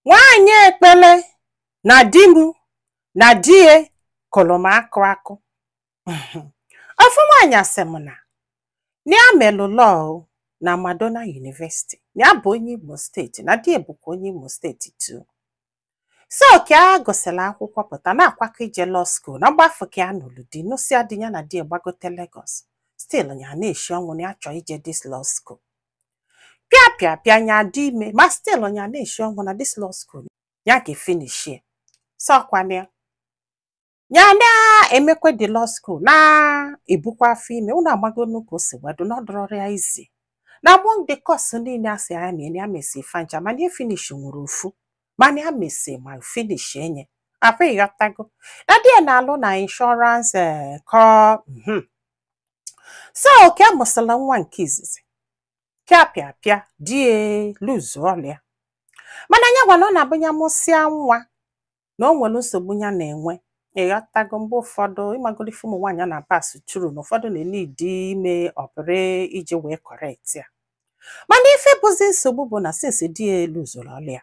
nwaanyị ekpele na di m na di ya kụrụ m akụ akụ ofu nwaanyị asị m na ya melụ law na Madonna University na ya bụ onye Imo steeti na di ya bụkwa onye Imo steeti too so ka a gụsịrị akwụkwọ pụta na-akwakọ ije law school na mgbe afụ ka ya nụrụ di nụsịa di ya na di ya gbagote Lagos still ya na-eshi ọnwụ na ya chọọ ije this law school pịa pịa pịa nya adị ime ma still nya na-eshi ọnwụ na this law school ya ga-efinishi so kwa na ya ya na-emekwe the law school na-ebukwa afọ ime unu amagonu ka o si wee dị na ọ dịrọrọ ya easy na among the course niile a sị ya mee na ya mesi fa ncha mana ya finish nwere ofu mana ya mesi ma finish enye akwa ị ghọtago na di ya na-alụ na insurance eh, kọ mhm. so ka a mụsịla nwa nke izizi pịa pịa pịa di ya luzu ọlụ ya mana ya gwa na ọ na-abụ ya mụsịa nwa na o nwere nsogbu ya na-enwe ị ghọtago mgbe ụfọdụ ị magolu ife ụmụ nwaanyị a na-apass through na ụfọdụ na-eneed ime ọpụrị iji wee correct ya mana ife bụzi nsogbu bụ na since di ya luzuru ọlụ ya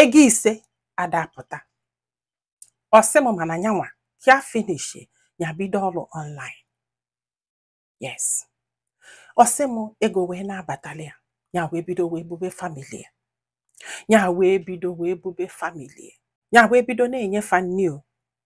ego ise adapụta ọ sị m mana nya nwa ya finish ya bido ọlụ online yes ọ sị m ego wee na-abatali ya ya wee bido wee bube family ya ya wee bido wee bube family ya ya wee bido na-enye fa nni o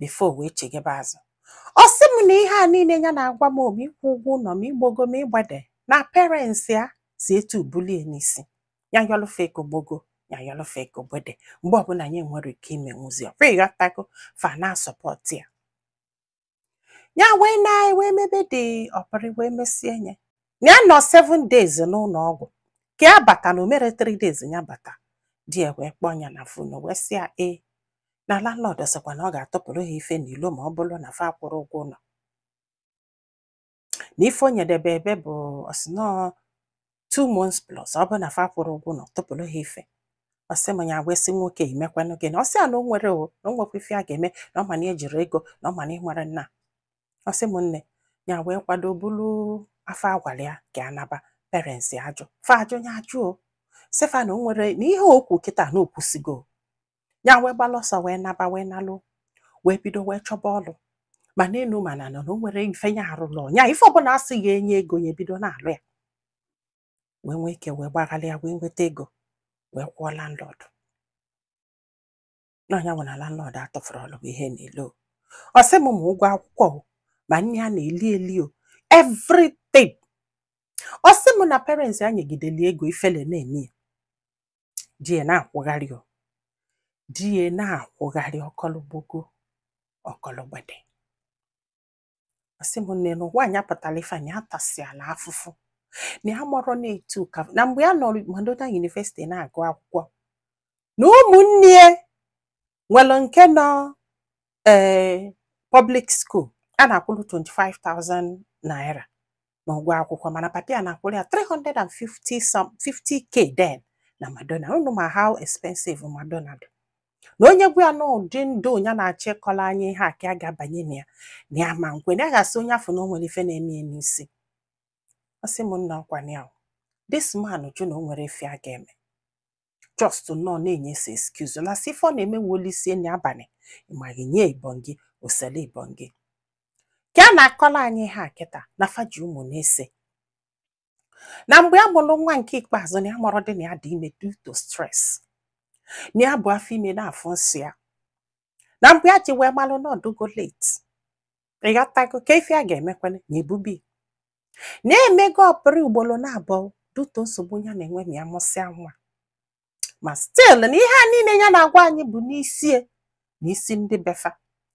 before o wee chighebe azụ ọ sị m na ihe a niile ya na-agwa m o ma ịkwụ ụgwọ ụlọ ma igbogo ma igbede na parents ya si etu bulie n'isi ya yọlụ fa ego gbogo ya yọlụ fa ego gbede mgbe ọbụla nya enwerọ ike imenwuzi ọkwa ị ghọtago fa na-asupport ya ya wee na wee mebe the ọpụrị wee mesie nye ya nọ 7 days n'ụlọ ọgwụ ka ya bata na o mere 3 days ya bata di ya wee kpọọ ya na phone wee sị ya ee na landlord sịkwa na ọ ga-atụpụrụ ha ife n'ilo ma ọ bụrụ na fa akwụrọ ụgwọ ụlọ na ife o nyedebe ebe bụ ọ sị na two months plus ọ bụrụ na fa akwụrọ ụgwọ ụlọ tụpụrụ ha ife ọ sị m ya wee sị nwoke i mekwanụ gịnị ọ sị ya na o nwere o na o nwekwa ife a ga-eme na ọ ma na ejiri ego na ọ ma na i nwere nna ọ sị m nne ya wee kwado buru afọ a kwara ya ka ya naba parents ya ajụ fa ajụ ya ajụ ọ sị fa na o nwere na ihe o kwu kịta na o kwusigo ya wee gbalụ ọsọ wee naba wee nalu wee bido wee chọba ọlụ ma n'elu ma n'ana o na o nwerọ ife ya arụrọ ya ife ọbụla a sị ga-enye ego ya ebido na-alụ ya wee nwee ike wee gbaghalịa wee nweta ego wee kwụọ landlord na nya wụ na landlord atụfurọlụ ha ihe n'ilo ọ sị m ma ụgwọ akwụkwọ o, ma nni a na-eli eli o everything ọ sị m na parents ya nyegideli ego ifele na-eme ya di ya na-akwụgharị o di ya na-akwụgharị ọkọlụgbogo ọkọlụgbede ọ sị m nne na ụwa anyị apụtala ife anyị atasịala afụfụ na ya amarọ na etu ka na mgbe ya nọ Madonna University na-agụ akwụkwọ na ụmụnne ya nwere nke nọ ee eh, public school a na-akwụrụ 25,000 naira na ụgwọ akwụkwọ mana papa ya na-akwụrụ ya 350k then na Madonna unu ma how expensive Madonna dị na onye gwa ya na ụdị ndụ ya na-achọ ịkọlụ anyị ihe a ka a ga-abanye na ya na ya ma nkwe na ya ga-asị onye afụ na o nwere ife na-eme ya n'isi ọ sị m nna ọkwa na ya this man jụ na o nwere ife a ga-eme just nọ na-enye si excuse na si ife ọ na-eme wụ o lisie nni abalị ịmaghị nye ibọn gị osele ibọn gị ka a na-akọlụ anyị ihe a kịta na fa ji ụmụ na ise na mgbe a mụrụ nwa nke ikpeazụ na ya amarọdị na ya dị ime due to stress na ya bu afọ ime na-afụ nsọ ya na mgbe ya ji wee malụ na ọ dịgo late ịghọtago ka ife a ga-emekwele na ebube na-emego ọpụrụ ugboro naabụọ due to nsogbu ya na-enwe na ya mụsịa nwa ma still na ihe a niile ya na-agwa anyị bụ n'isie na isi ndị be fa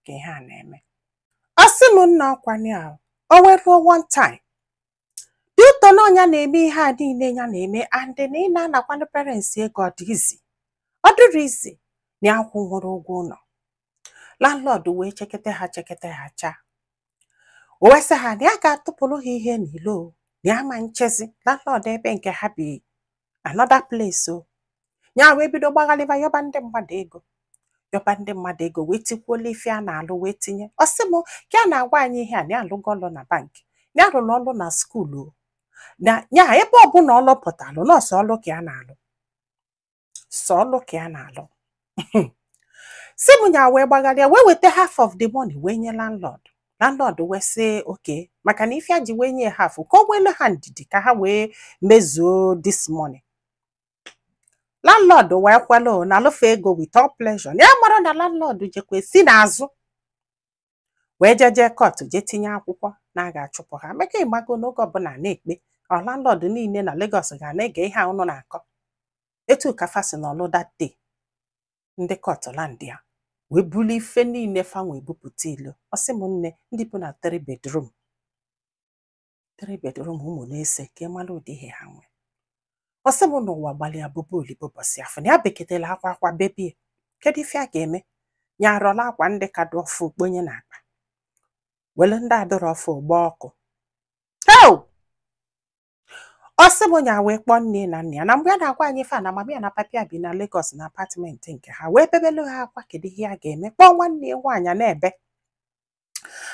ka ihe a na-eme ọ sị m nna ọkwa na o wee ruo one time due to na ọ nya na-eme ihe a niile ya na-eme and na ị na-anakwanụ parents ego ọ dị easy ọ dịrọ easy na ya akwụnwurọ ụgwọ ụlọ landlord wee chekete ha chekete ha chaa o wee sị ha na ya ga-atụpụrụ ha ihe n'ilo na ya ma nchezi landlord ebe nke ha bi another place o ya wee bido gbaghalịba yọba ndị mmadụ ego yọba ndị mmadụ ego wee tikwuola ife a na-alụ wee tinye ọ sị m ka ya na-agwa anyị ihe a na ya alụgo ọlụ na bank ya alụla ọlụ na school o na ya ebe ọbụla ọlụ pụtalụ na ọ sọ ọlụ ka ya na-alụ sọ ọlụ ka ya na-alụ si m nya wee gbagharịa wee weta half of the money wee nye landlord landlord wee sị okay maka na ife ya ji wee nye half ka o nwelu ha ndidi ka ha wee mezuo this money landlord wee kwelu nalụ fa ego with all pleasure na ya amarọ na landlord jekwe si n'azụ wee jee jee court jee tinye akwụkwọ na a ga-achụpụ ha maka ịmago n'oge ọbụla na-ekpe ọ landlord niile na Lagos ga na-ege ihe a ụnụ na-akọ etu ka fa si nọlụ that day ndị court landịa wee bulu ife niile fa nwe bupụta ilo ọ sị m nne ndị bi na three bedroom three bedroom ụmụ na-ese ka ịmara ụdị ihe ha nwere ọ sị m n'ụwa gbalịa bụba olibo ụbọsị afụ na ya beketela akwa akwa bebie kedu ife a ga-eme ya arọla akwa ndị ka dị ọfụ kponye na akpa wele ndị adịrọ ọfụ gba ọkụ heo ọ sị m nya wee kpọọ nne na nna ya na mgbe ya na-agwa anyị ife a na mama ya na papi ya bi na Lagos na apartment nke ha wee bebelu ha akwa kedu ihe a ga-eme kpọọ nwanne ya nwaanyị a na-ebe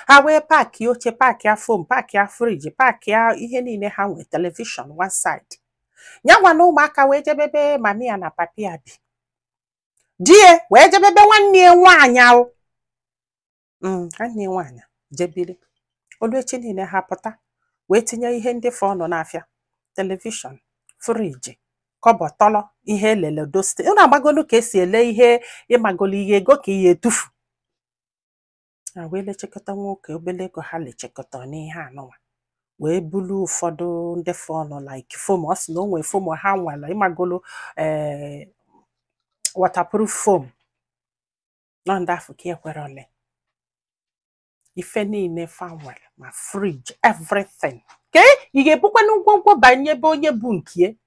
ha wee paakị oche paakị ya foam paakị ya friji paakị ya ihe niile ha nwee telivishọn one side ya nwa na ụmụaka wee jebe ebe mami ya na papi ya bi di ya wee jebe be nwanne ya nwaanyị ahụ Mm, nwanne ya nwaanyị je biri o lu echi niile ha pụta wee tinye ihe ndị fọnụ n'afịa telivishọn friji kọbọ tọlọ ihe elele dosti unu amagolu ka e si ele ihe ịmagolu ihe ego ka ihe etufu ha wee lechekọta nwoke obele ego ha lechekọta n'ihe anụnwa wee bulu ụfọdụ ndị fọnụ like foam ọ sị na o nwee foam ha nwere ịmagolo ee waterproof foam nọ ndị afụ ka ekwerọ ole ife niile fa nwere ma friji everything ka ị ga-ebukwanụ ngwongwo banye be onye bụ nke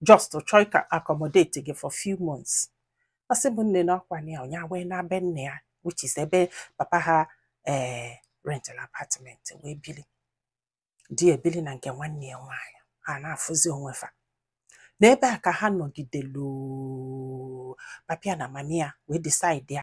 just chọọ ka accommodate gị for few months ọ sị m nne na ọkwa na ya nwa wee naa be nne ya which is ebe papa ha ee eh, rental apartment wee bili di ya ebili na nke nwanne ya nwaanyị ha na-afụzi onwe fa n'ebe a ka ha nọgidelu papi ya na mami ya wee decide ya